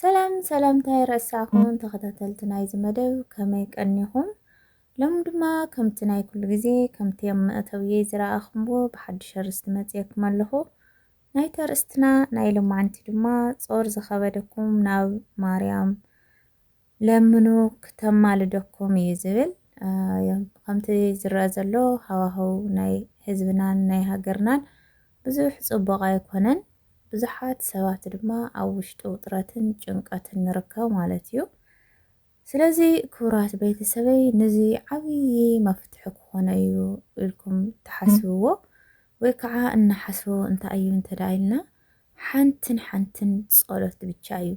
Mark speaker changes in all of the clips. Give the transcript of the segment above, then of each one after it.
Speaker 1: ሰላም ሰላምታ ኣይረሳኹም ተኸታተልቲ ናይዚ መደብ ከመይ ቀኒኹም ሎም ድማ ከምቲ ናይ ኩሉ ግዜ ከምቲ ኣብ መእተውየይ ዝረኣኹምዎ ብሓድሽ ኣርእስቲ መጽየኩም ኣለኹ ናይቲ ኣርእስትና ናይ ሎማዕንቲ ድማ ጾር ዝኸበደኩም ናብ ማርያም ለምኑ ክተማልደኩም እዩ ዝብል ከምቲ ዝረኣ ዘሎ ሃዋህው ናይ ህዝብናን ናይ ሃገርናን ብዙሕ ጽቡቕ ኣይኮነን ብዙሓት ሰባት ድማ ኣብ ውሽጢ ውጥረትን ጭንቀትን ንርከብ ማለት እዩ ስለዚ ክቡራት ቤተሰበይ ነዚ ዓብዪ መፍትሒ ክኾነ እዩ ኢልኩም ትሓስብዎ ወይ ከዓ እናሓስቡ እንታይ እዩ እንተዳ ኢልና ሓንትን ሓንትን ጸሎት ብቻ እዩ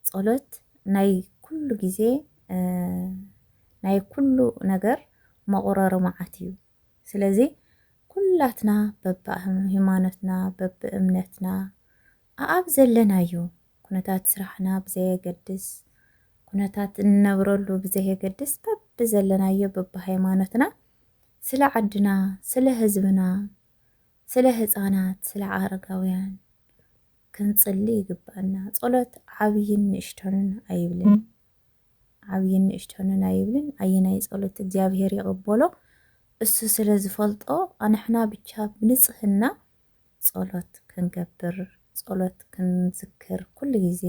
Speaker 1: ጸሎት ናይ ኩሉ ግዜ ናይ ኩሉ ነገር መቑረሪ መዓት እዩ። ስለዚ ኩላትና በብሃይማኖትና በብእምነትና ኣኣብ ዘለናዮ ኩነታት ስራሕና ብዘየገድስ ኩነታት እንነብረሉ ብዘየገድስ በብዘለናዮ በብሃይማኖትና ስለ ዓድና ስለ ህዝብና ስለ ህፃናት ስለ ኣረጋውያን ክንጽሊ ይግብኣና። ጸሎት ዓብይን ንእሽቶንን ኣይብልን። ዓብይን ንእሽቶንን ኣይብልን። ኣየናይ ጸሎት እግዚኣብሔር ይቕበሎ እሱ ስለ ዝፈልጦ ኣንሕና ብቻ ብንጽህና ጸሎት ክንገብር ጸሎት ክንዝክር ኩሉ ግዜ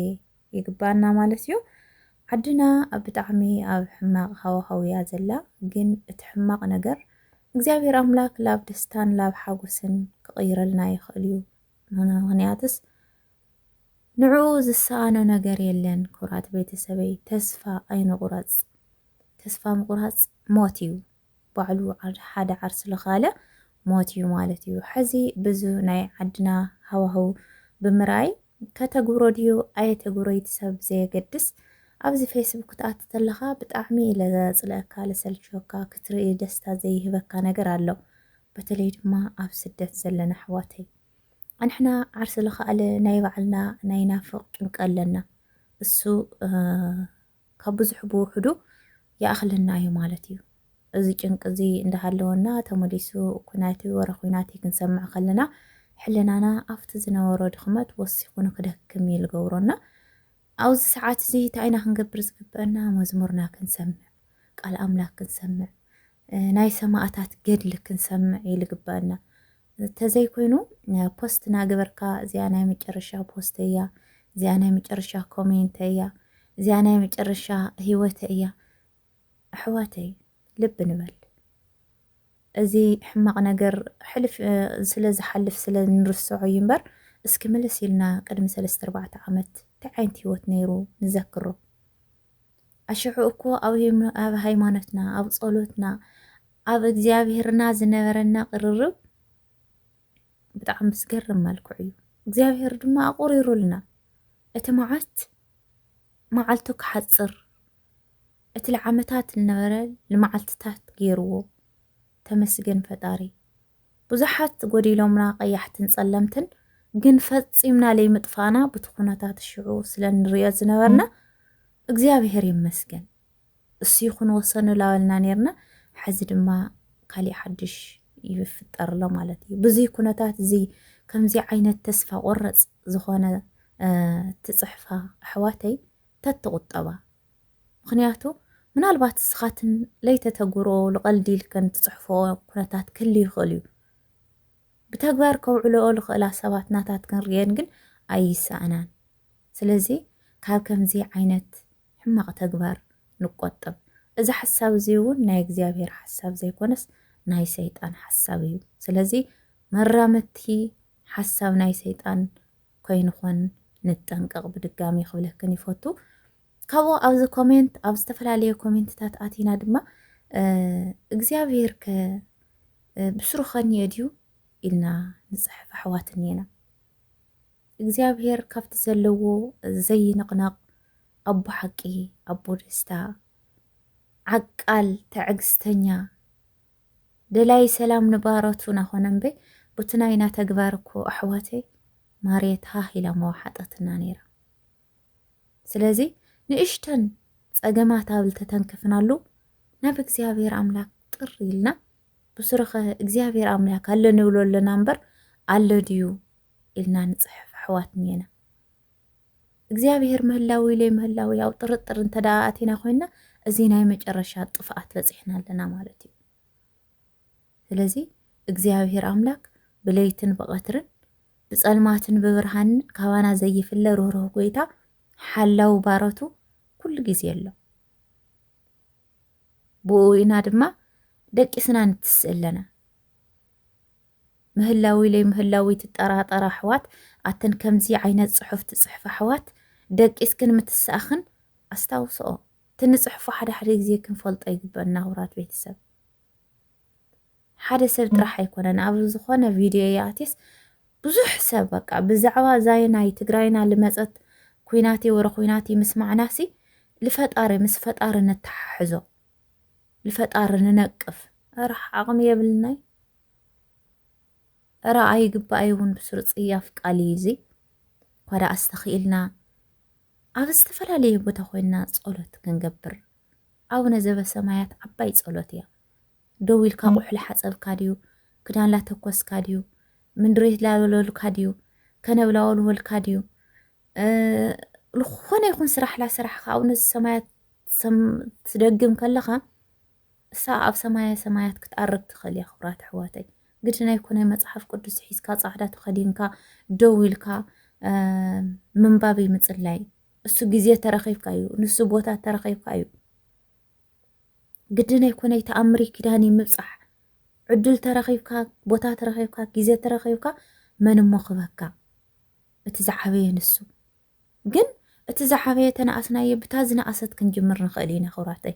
Speaker 1: ይግብኣና ማለት እዩ። ዓድና ኣብ ብጣዕሚ ኣብ ሕማቕ ሃዋህው እያ ዘላ ግን እቲ ሕማቕ ነገር እግዚኣብሔር ኣምላክ ላብ ደስታን ላብ ሓጎስን ክቕይረልና ይኽእል እዩ። ምክንያትስ ንዕኡ ዝሰኣኖ ነገር የለን ክብራት ቤተሰበይ ተስፋ ኣይንቁረጽ ተስፋ ምቁራጽ ሞት እዩ ባዕሉ ሓደ ዓርስ ልካለ ሞት እዩ ማለት እዩ ሐዚ ብዙ ናይ ዓድና ሃዋህው ብምርኣይ ከተግብሮ ድዩ ኣየተግብሮ ይቲ ሰብ ዘየገድስ ኣብዚ ፌስቡክ ክትኣቲ ተለካ ብጣዕሚ ኢለ ዘጽልኣካ ልሰልችወካ ክትርኢ ደስታ ዘይህበካ ነገር ኣሎ በተለይ ድማ ኣብ ስደት ዘለና ኣሕዋተይ ኣንሕና ዓርሲ ልኻኣለ ናይ ባዕልና ናይ ናፍቅ ጭንቂ ኣለና እሱ ካብ ብዙሕ ብውሑዱ ይኣኽለና እዩ ማለት እዩ እዚ ጭንቂ እዚ እንዳሃለወና ተመሊሱ ኩናት ወረ ኩናት እዩ ክንሰምዕ ከለና ሕልናና ኣብቲ ዝነበሮ ድኽመት ወሲኹ ንክደክም እዩ ልገብሮና ኣብዚ ሰዓት እዚ እንታይ ኢና ክንገብር ዝግበእና መዝሙርና ክንሰምዕ ቃል ኣምላክ ክንሰምዕ ናይ ሰማእታት ገድሊ ክንሰምዕ እዩ ዝግበእና ተዘይ ኮይኑ ፖስት ናገበርካ እዚኣ ናይ መጨረሻ ፖስተ እያ እዚኣ ናይ መጨረሻ ኮሜንተ እያ እዚኣ ናይ መጨረሻ ህይወተ እያ ኣሕዋተይ ልብ ንበል እዚ ሕማቅ ነገር ሕልፍ ስለ ዝሓልፍ ስለ ንርስዖ እዩ እምበር እስኪ ምልስ ኢልና ቅድሚ ሰለስተ ኣርባዕተ ዓመት እንታይ ዓይነት ሂወት ነይሩ ንዘክሮ ኣሽዑ እኮ ኣብ ሃይማኖትና ኣብ ጸሎትና ኣብ እግዚኣብሔርና ዝነበረና ቅርርብ ብጣዕሚ ብዝገርም መልክዑ እዩ እግዚኣብሔር ድማ ኣቑሪሩልና እቲ መዓት መዓልቱ ክሓፅር እቲ ለዓመታት ዝነበረ ንመዓልትታት ገይርዎ ተመስገን ፈጣሪ ብዙሓት ጎዲሎምና ቀያሕትን ጸለምትን ግን ፈጺምና ለይምጥፋእና ብቲ ኩነታት ሽዑ ስለ ንሪኦ ዝነበርና እግዚኣብሔር ይመስገን እሱ ይኹን ወሰኑ ላበልና ኔርና ሐዚ ድማ ካሊእ ሓድሽ ይፍጠር ኣሎ ማለት እዩ ብዙይ ኩነታት እዚ ከምዚ ዓይነት ተስፋ ቆረፅ ዝኾነ ትፅሕፋ ኣሕዋተይ ተትቁጠባ ምክንያቱ ምናልባት እስኻትን ለይተተግብሮ ልቐልዲ ኢልከን ትፅሕፎ ኩነታት ክህሉ ይኽእል እዩ ብተግባር ከውዕልኦ ልኽእላ ሰባት ናታትክን ርየን ግን ኣይሰኣናን ስለዚ ካብ ከምዚ ዓይነት ሕማቕ ተግባር ንቆጠብ። እዚ ሓሳብ እዚ እውን ናይ እግዚኣብሔር ሓሳብ ዘይኮነስ ናይ ሰይጣን ሓሳብ እዩ። ስለዚ መራመድቲ ሓሳብ ናይ ሰይጣን ከይንኾን ንጠንቀቕ ብድጋሚ ክብለክን ይፈቱ። ካብኡ ኣብዚ ኮሜንት ኣብ ዝተፈላለየ ኮሜንትታት ኣቲና ድማ እግዚኣብሔር ከ ብስሩ ከንዮ ድዩ ኢልና ንፅሕፍ ኣሕዋት እኒና እግዚኣብሔር ካብቲ ዘለዎ ዘይንቕነቕ ኣቦ ሓቂ ኣቦ ደስታ ዓቃል ተዕግስተኛ ደላይ ሰላም ንባሮቱ ናኾነ እምበይ ቡቲ ናይና ተግባር እኮ ኣሕዋተይ ማርየት ሃህ ኢላ መዋሓጠትና ነይራ ስለዚ ንእሽተን ጸገማት ኣብ ልተተንከፍናሉ ናብ እግዚኣብሔር ኣምላክ ጥር ኢልና ብሱረኸ እግዚኣብሔር ኣምላክ ኣለ ንብሎ ኣለና እምበር ኣለ ድዩ ኢልና ንጽሕፍ ኣሕዋት ኔና። እግዚኣብሄር ምህላው ኢለይ ምህላው ያው ጥርጥር እንተ ኣቲና ኮይና እዚ ናይ መጨረሻ ጥፍኣት በጺሕና ኣለና ማለት እዩ። ስለዚ እግዚኣብሄር ኣምላክ ብለይትን ብቐትርን ብጸልማትን ብብርሃንን ካባና ዘይፍለ ርህሩህ ጎይታ ሓላዊ ባረቱ ኩሉ ግዜ ኣሎ። ብኡ ኢና ድማ ደቂስና ንትስእ ኣለና። ምህላውይ ለይምህላውይ ትጠራጠራ ኣሕዋት ኣተን ከምዚ ዓይነት ጽሑፍ ትጽሕፋ ኣሕዋት ደቂስክን ምትሳእኽን ኣስታውስኦ እቲ ንጽሕፎ ሓደ ሓደ ግዜ ክንፈልጦ ይግበኣና ክብራት ቤተሰብ ሓደ ሰብ ጥራሕ ኣይኮነን ኣብ ዝኾነ ቪድዮ ይኣትየስ ብዙሕ ሰብ በቃ ብዛዕባ እዛይ ናይ ትግራይና ልመፀት ኩናት ወረ ኩናት ምስማዕናሲ ልፈጣሪ ምስ ፈጣሪ ነተሓሕዞ ንፈጣሪ ንነቅፍ እረ ዓቅሚ የብልናይ እረ ኣይግባኣይ እውን ብስሩ ፅያፍ ቃል እዩ እዚ እኳ ደኣ ዝተኽኢልና ኣብ ዝተፈላለየ ቦታ ኮይንና ጸሎት ክንገብር ኣቡነ ዘበሰማያት ዓባይ ጸሎት እያ ደው ኢልካ ቁሑ ላሓፀብካ ድዩ ክዳን ላተኮስካ ድዩ ምንድሬት ላበለሉካ ድዩ ከነብላወልወልካ ድዩ ዝኾነ ይኹን ስራሕ ላስራሕካ ኣቡነ ዘሰማያት ትደግም ከለኻ እሳ ኣብ ሰማያ ሰማያት ክትኣርግ ትኽእል እያ ክብራት ኣሕዋተይ ግድን ኣይኮነይ መፅሓፍ ቅዱስ ሒዝካ ፃዕዳ ተኸዲንካ ደው ኢልካ ምንባብ ምፅላይ እሱ ግዜ ተረኺብካ እዩ ንሱ ቦታ ተረኺብካ እዩ ግድን ኣይኮነይ ተኣምሪ ኪዳን ምብፃሕ ዕድል ተረኺብካ ቦታ ተረኺብካ ግዜ ተረኺብካ መን እሞ ክበካ እቲ ዝዓበየ ንሱ ግን እቲ ዝዓበየ ተነኣስናዮ ብታ ዝነኣሰት ክንጅምር ንኽእል ኢና ክብራተይ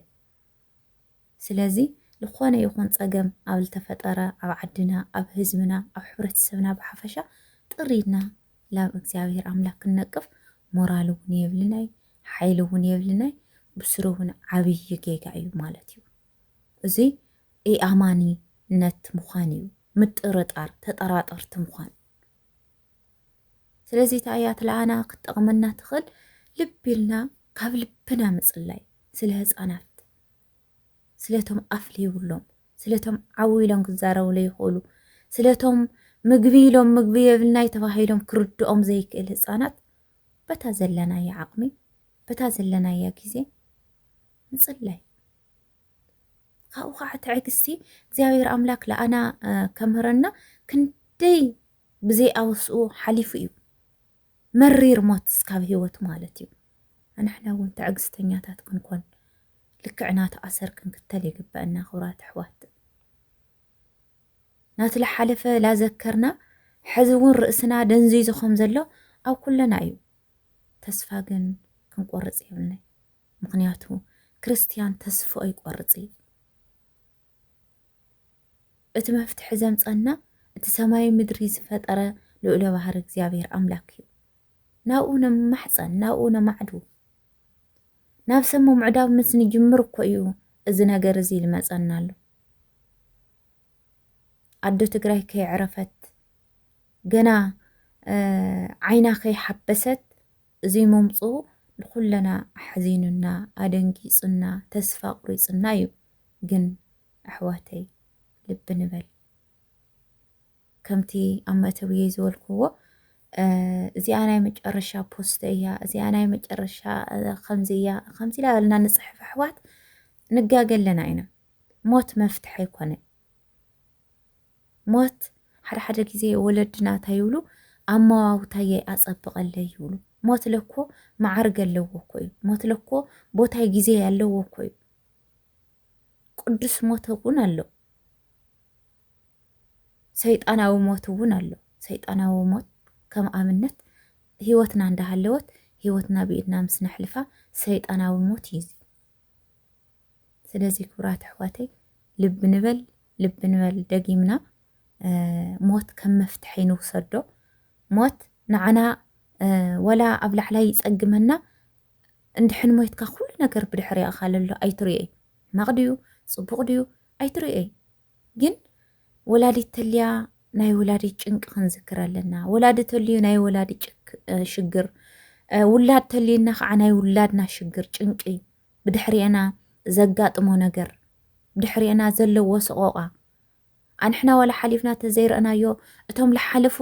Speaker 1: ስለዚ ልኾነ ይኹን ጸገም ኣብ ልተፈጠረ ኣብ ዓድና ኣብ ህዝብና ኣብ ሕብረተሰብና ብሓፈሻ ጥር ኢልና ላብ እግዚኣብሔር ኣምላክ ክንነቅፍ ሞራል እውን የብልናይ ሓይሊ እውን የብልናይ ብስሩ እውን ዓብይ ጌጋ እዩ ማለት እዩ እዚ ኢኣማኒነት ምዃን እዩ ምጥርጣር ተጠራጠርቲ ምዃን ስለዚ እታ እያ ትለኣና ክትጠቕመና ትኽእል ልቢ ኢልና ካብ ልብና ምፅላይ ስለ ህፃናት ስለቶም ኣፍ ዘይብሎም ስለቶም ዓው ኢሎም ክዛረቡ ዘይኽእሉ ስለቶም ምግቢ ኢሎም ምግቢ የብልናይ ተባሂሎም ክርድኦም ዘይክእል ህፃናት በታ ዘለናያ ዓቕሚ በታ ዘለናያ ግዜ ምፅላይ ካብኡ ከዓ ትዕግስቲ እግዚኣብሔር ኣምላክ ለኣና ከምህረና ክንደይ ብዘይ ኣወስኡ ሓሊፉ እዩ መሪር ሞት እስካብ ህይወት ማለት እዩ ኣንሕና እውን ትዕግስተኛታት ክንኮን ልክዕ ናቲ ኣሰር ክንክተል ይግበአና ክብራት ኣሕዋት ናቲ ዝሓለፈ ላዘከርና ሕዚ እውን ርእስና ደንዚዙ ከም ዘሎ ኣብ ኩለና እዩ ተስፋ ግን ክንቆርፅ የብልናይ ምኽንያቱ ክርስትያን ተስፍኡ ኣይቆርጽ እዩ። እቲ መፍትሒ ዘምጸና እቲ ሰማይ ምድሪ ዝፈጠረ ልኡለ ባህሪ እግዚኣብሔር ኣምላክ እዩ። ናብኡ ነማሕጸን ናብኡ ነማዕዱ ናብ ሰሙ ምዕዳብ ምስ ንጅምር እኮ እዩ እዚ ነገር እዚ ልመጸና ኣሎ። ኣዶ ትግራይ ከይዕረፈት ገና ዓይና ከይሓበሰት እዚ ምምጽኡ ንኹለና ኣሕዚኑና ኣደንጊጹና ተስፋ ኣቑሪጹና እዩ ግን ኣሕዋተይ ልቢ ንበል ከምቲ ኣብ መእተዊየይ ዝበልክዎ እዚኣ ናይ መጨረሻ ፖስተ እያ እዚኣ ናይ መጨረሻ ከምዚ እያ ከምዚ ላበልና ንጽሕፍ ኣሕዋት ንጋገ ኣለና ኢና ሞት መፍትሒ ኣይኮነን ሞት ሓደ ሓደ ግዜ ወለድና እንታይ ይብሉ ኣመዋውታየይ ኣጸብቐለይ ይብሉ። ሞት ለኮ መዓርገ ኣለዎ እኮ እዩ። ሞት ለኮ ቦታይ ግዜ ኣለዎ እኮ እዩ። ቅዱስ ሞት እውን ኣሎ፣ ሰይጣናዊ ሞት እውን ኣሎ። ሰይጣናዊ ሞት ከም ኣብነት ህይወትና እንዳሃለወት ህይወትና ብኢድና ምስ ነሕልፋ ሰይጣናዊ ሞት እዩ። ስለዚ ክብራት ኣሕዋተይ ልቢ ንበል ልቢ ንበል ደጊምና ሞት ከም መፍትሒ ንውሰዶ ሞት ንዓና ወላ ኣብ ላዕላ ይፀግመና እንድሕን ሞትካ ኩሉ ነገር ብድሕሪያ ካለሎ ኣይትርእይ መቕድዩ ፅቡቕ ድዩ ኣይትርእይ ግን ወላዲት ተልያ ናይ ወላዲት ጭንቂ ክንዝክር ኣለና። ወላዲ ተልዩ ናይ ወላዲ ሽግር፣ ውላድ ተልዩና ከዓ ናይ ውላድና ሽግር ጭንቂ፣ ብድሕሪኤና ዘጋጥሞ ነገር፣ ብድሕሪኤና ዘለዎ ሰቆቃ ኣንሕና ዋላ ሓሊፍና ተዘይረእናዮ እቶም ዝሓለፉ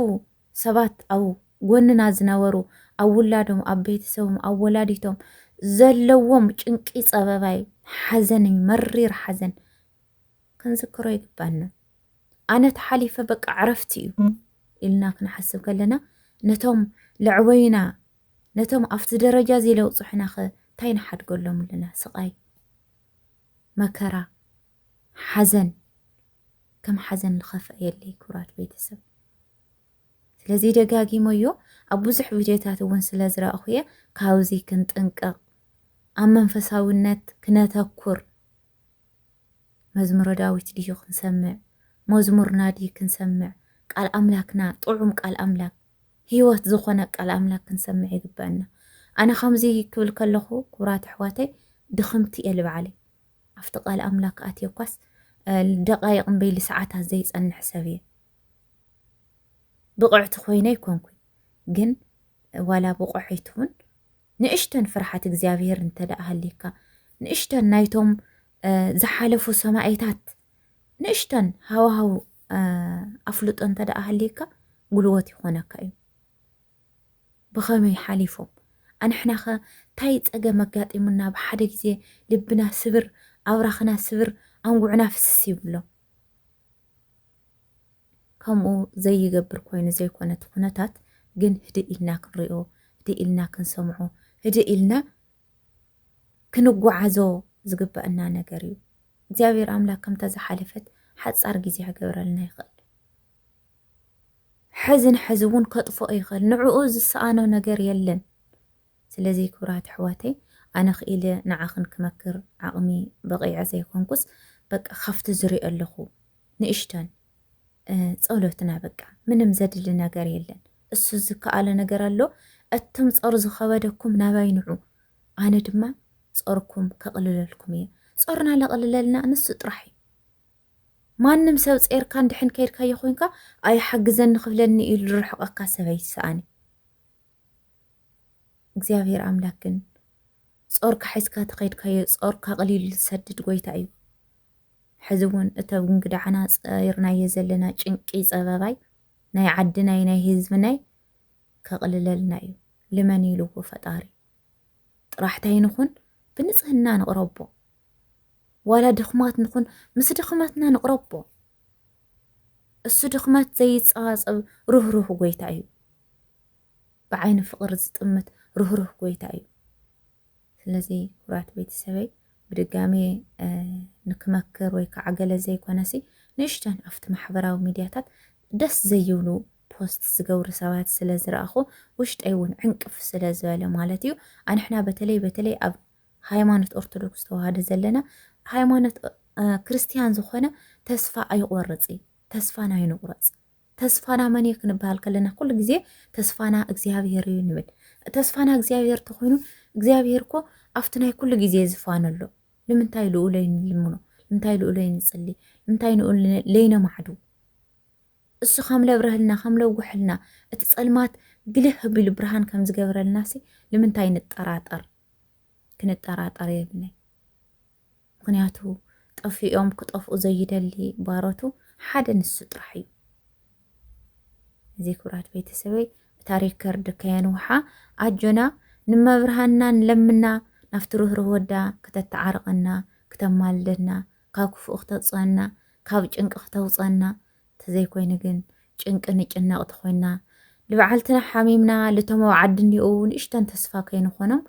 Speaker 1: ሰባት ኣብ ጎንና ዝነበሩ ኣብ ውላዶም ኣብ ቤተሰቦም ኣብ ወላዲቶም ዘለዎም ጭንቂ ፀበባይ ሓዘን እዩ መሪር ሓዘን ክንዝክሮ ይግባና። ኣነ ተሓሊፈ በቃ ዕረፍቲ እዩ ኢልና ክንሓስብ ከለና ነቶም ለዕበዩና ነቶም ኣብቲ ደረጃ እዚ ለውፅሑና ኸ እንታይ ንሓድገሎም ኣለና? ስቓይ፣ መከራ፣ ሓዘን ከም ሓዘን ዝኸፍአ የለይ ክብራት ቤተሰብ። ስለዚ ደጋጊመዮ ኣብ ብዙሕ ቪድዮታት እውን ስለ ዝረእኹ እየ ካብዚ ክንጥንቀቕ ኣብ መንፈሳዊነት ክነተኩር መዝሙረ ዳዊት ድዩ ክንሰምዕ ሞዝሙርና ድዩ ክንሰምዕ ቃል ኣምላክና ጥዑም ቃል ኣምላክ ሂወት ዝኮነ ቃል ኣምላክ ክንሰምዕ ይግበእና ኣነ ከምዚ ክብል ከለኩ ኩብራት ኣሕዋተይ ድክምቲ እየ ልባዕለይ ኣብቲ ቃል ኣምላክ ኣትየ እኳስ ደቃይቅ እምበይ ልሰዓታት ዘይጸንሕ ሰብ እየ ብቅዕቲ ኮይነ ኣይኮንኩ ግን ዋላ ብቆዐይትውን ንእሽተን ፍርሓት እግዚኣብሄር እንተደኣ ሃልይካ ንእሽተን ናይቶም ዝሓለፉ ሰማኢታት ንእሽተን ሃዋሃው ኣፍልጦ እንተደኣ ሃልይካ ጉልወት ይኾነካ እዩ ብኸመይ ሓሊፎም ኣንሕናኸ ታይ ፀገም ኣጋጢሙና ብሓደ ግዜ ልብና ስብር ኣብራኽና ስብር ኣንጉዕና ፍስስ ይብሎ ከምኡ ዘይገብር ኮይኑ ዘይኮነ እቲ ኩነታት ግን ህድእ ኢልና ክንሪኦ ህድእ ኢልና ክንሰምዖ ህድእ ኢልና ክንጓዓዞ ዝግበእና ነገር እዩ እግዚኣብሔር ኣምላክ ከምታ ዝሓለፈት ሓፃር ግዜ ክገብረልና ይኽእል ሕዚ ንሕዚ እውን ከጥፍኦ ይኽእል ንዕኡ ዝሰኣኖ ነገር የለን ስለዚ ክብራት ኣሕዋተይ ኣነ ክኢለ ንዓኽን ክመክር ዓቕሚ በቒዐ ዘይኮንኩስ በቃ ካብቲ ዝሪኦ ኣለኹ ንእሽቶን ጸሎትና በቃ ምንም ዘድሊ ነገር የለን። እሱ ዝከኣለ ነገር ኣሎ እቶም ጾር ዝኸበደኩም ናባይ ንዑ ኣነ ድማ ጾርኩም ከቕልለልኩም እየ ጾርና ለቕልለልና ንሱ ጥራሕ እዩ ማንም ሰብ ጼርካ እንድሕን ከይድካዮ ኮይንካ ኣይሓግዘኒ ክብለኒ እዩ ዝርሕቐካ ሰብ ኣይሰኣኒ እግዚኣብሔር ኣምላክ ግን ጾርካ ሒዝካ ተኸይድካዮ ጾርካ ኣቕሊሉ ዝሰድድ ጎይታ እዩ። ሕዚ እውን እተ ብንግዳዕና ጸይርናዮ ዘለና ጭንቂ ጸበባይ ናይ ዓድናይ ናይ ህዝብናይ ከቕልለልና እዩ። ልመን ኢልዎ ፈጣሪ ጥራሕታይ ንኹን ብንጽህና ንቕረቦ ዋላ ድኽማት ንኹን ምስ ድኽመትና ንቕረቦ እሱ ድኽመት ዘይጸባጸብ ርህሩህ ጎይታ እዩ። ብዓይኒ ፍቕሪ ዝጥምት ርህሩህ ጎይታ እዩ። ስለዚ ኩራት ቤተሰበይ ብድጋሜ ንክመክር ወይ ከዓ ገለ ዘይኮነሲ ንእሽተን ኣብቲ ማሕበራዊ ሚድያታት ደስ ዘይብሉ ፖስት ዝገብሩ ሰባት ስለ ዝረኣኹ ውሽጠይ እውን ዕንቅፍ ስለ ዝበለ ማለት እዩ ኣንሕና በተለይ በተለይ ኣብ ሃይማኖት ኦርቶዶክስ ተዋህዶ ዘለና ሃይማኖት ክርስቲያን ዝኾነ ተስፋ ኣይቆርፅ እዩ ተስፋን ኣይንቁረፅ ተስፋና መን እዩ ክንበሃል ከለና ኩሉ ግዜ ተስፋና እግዚኣብሄር እዩ ንብል። ተስፋና እግዚኣብሄር ተኾይኑ እግዚኣብሄር እኮ ኣብቲ ናይ ኩሉ ግዜ ዝፋኑ ኣሎ። ንምንታይ ልኡ ለይንልምኖ? ንምንታይ ልኡ ለይንጽሊ? ንምንታይ ንኡ ለይነማዕዱ? እሱ ከም ለብረህልና ከም ለውጉሐልና እቲ ጸልማት ግልህ ቢሉ ብርሃን ከም ዝገብረልናሲ ንምንታይ ንጠራጠር? ክንጠራጠር የብልናይ። ምኽንያቱ ጠፊኦም ክጠፍኡ ዘይደሊ ባሮቱ ሓደ ንሱ ጥራሕ እዩ። እዚ ክብራት ቤተሰበይ እታ ሪከርድ ከየንውሓ ኣጆና ንመብርሃንና ንለምና ናፍቲ ርህሩህ ወዳ ክተተዓርቐና ክተማልደና ካብ ክፉእ ክተውፅኣና ካብ ጭንቂ ክተውፀና ተዘይኮይኑ ግን ጭንቂ ንጭነቕ ተኾይና ልበዓልትና ሓሚምና ልቶም ኣብ ዓዲ እኒኡ ንእሽተን ተስፋ ከይንኾኖም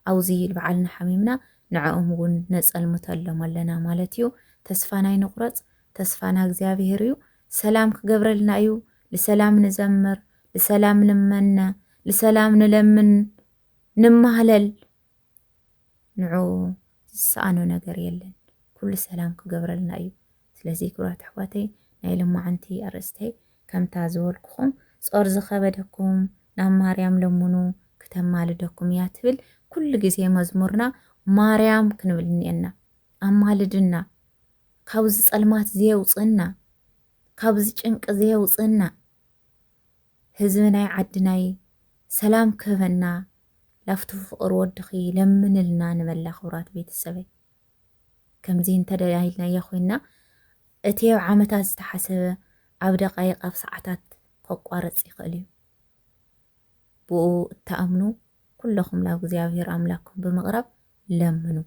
Speaker 1: ኣውዚ ልብዓልና ሓሚምና ንዕኦም እውን ነጸልምተሎም ኣለና ማለት እዩ ተስፋና ኣይንቁረጽ ተስፋና እግዚኣብሔር እዩ ሰላም ክገብረልና እዩ ልሰላም ንዘምር ልሰላም ንመነ ልሰላም ንለምን ንማህለል ንዑ ዝሰኣኖ ነገር የለን ኩሉ ሰላም ክገብረልና እዩ ስለዚ ክብራት ኣሕዋተይ ናይ ልማዓንቲ ኣርእስተይ ከምታ ዝበልኩኹም ጾር ዝኸበደኩም ናብ ማርያም ለምኑ ክተማልደኩም እያ ትብል ኩሉ ግዜ መዝሙርና ማርያም ክንብል እኒኤና ኣማልድና ካብዚ ጸልማት ዘየውጽእና ካብዚ ጭንቂ ዘየውጽእና ህዝቢ ናይ ዓድናይ ሰላም ክህበና ላፍቱ ፍቕር ወድኺ ለምንልና ንበላ ክብራት ቤተሰበይ ከምዚ እንተ ኢልናዮ ኮይንና እቲ ኣብ ዓመታት ዝተሓሰበ ኣብ ደቓይቕ ኣብ ሰዓታት ከቋርጽ ይኽእል እዩ። ብኡ እትኣምኑ ኩለኹም ናብ እግዚኣብሔር ኣምላክኩም ብምቕራብ ለምኑ።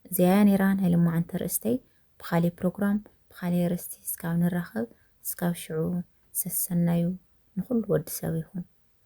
Speaker 1: እዚኣ እያ ነይራ ናይ ልማዓንቲ ኣርእስተይ። ብኻልእ ፕሮግራም ብኻልእ ኣርእስቲ እስካብ ንራኸብ እስካብ ሽዑ ሰሰናዩ ንኹሉ ወዲ ሰብ ይኹን።